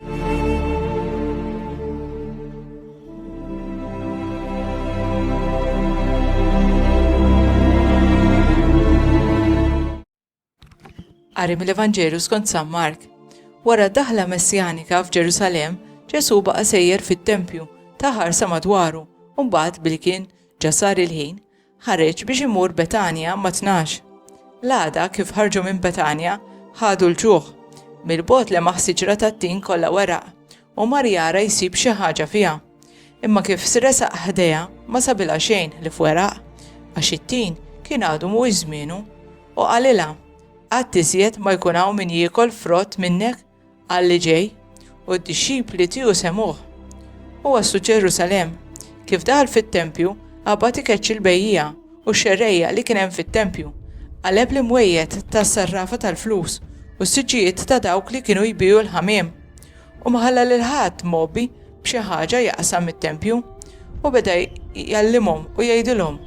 Qari mill-Evanġelju skont San Mark. Wara daħla messjanika f'Ġerusalem, Ġesu baqa' sejjer fit-tempju, taħar sa madwaru, u mbagħad billi kien ġasar il-ħin, ħareġ biex imur Betanja mat-tnax. L-għada, kif ħarġu minn Betanja, ħadu l-ġuħ. Mill-bogħod lemaħ siġra tat-tin kollha weraq u mar jara jsib xi ħaġa fiha. Imma kif sresaq ħdejha, ma sabilha xejn li f'weraq, għax it-tin kien għadu mhuwiex żmienu. U qalilha, Qatt iżjed ma jkun hawn min jiekol frott minnek Qal li ġej, u d-dixxipli tiegħu semgħuh. U waslu Ġerusalemm. Kif daħal fit-tempju, qabad ikeċċ il-bejjiegħa u x-xerrejja li kien hemm fit-tempju. Qaleb l-imwejjed tas-sarrafa tal-flus u s-siġġijiet ta' dawk li kienu jbiegħu l-ħamiem. U ma ħalla lil ħadd mgħobbi b'xi ħaġa jaqsam mit-tempju. U beda jgħallimhom u jgħidilhom,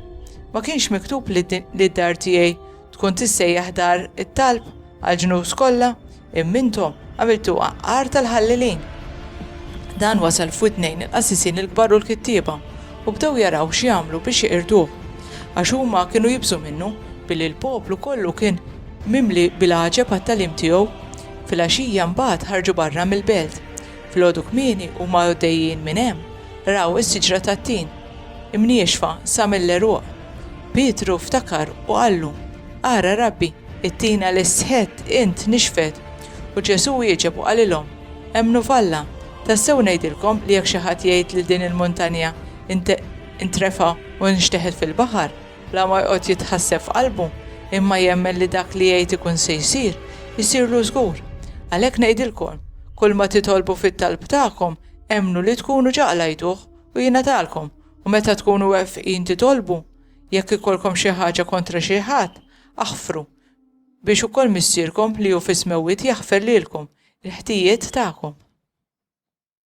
Ma kienx miktub li d-dar tiegħi Tkun tissejjaħ dar it-talb għall-ġnus kollha, imma intom għamiltuha għar tal-ħallelin. Dan wasal f'widnejn il-qassisin il-kbar u l-kittieba, u bdew jaraw x'jagħmlu biex jeqirduh, għax huma kienu jibżgħu minnu, billi l-poplu kollu kien mimli bil-għaġeb għat-tagħlim tiegħu. Filgħaxija mbagħad ħarġu barra mill-belt. Filgħodu kmieni huma għoddejjin minn hemm, raw is-siġra tat-tin, imniexfa sa mill-għeruq. Pietru ftakar u qallu, Ara, Rabbi, it-tina li sħett int nixfet. U Ġesù wieġeb u qalilhom, Emmnu f'Alla. Tassew ngħidilkom li jekk xi ħadd jgħid lil din il-muntanja, Intrefa' u nxteħet fil-baħar, la ma joqgħod jitħasseb f'qalbu, imma jemmen li dak li jgħid ikun se jsir, isirlu żgur. Għalhekk ngħidilkom, kulma titolbu fit-talb tagħkom, emmnu li tkunu ġa qlajtuh, u jingħatalkom. U meta tkunu wefqin titolbu, jekk ikolkom xi ħaġa kontra xi ħadd, aħfru, biex ukoll Missierkom li hu fis-smewwiet jaħfer lilkom il-ħtijiet tagħkom.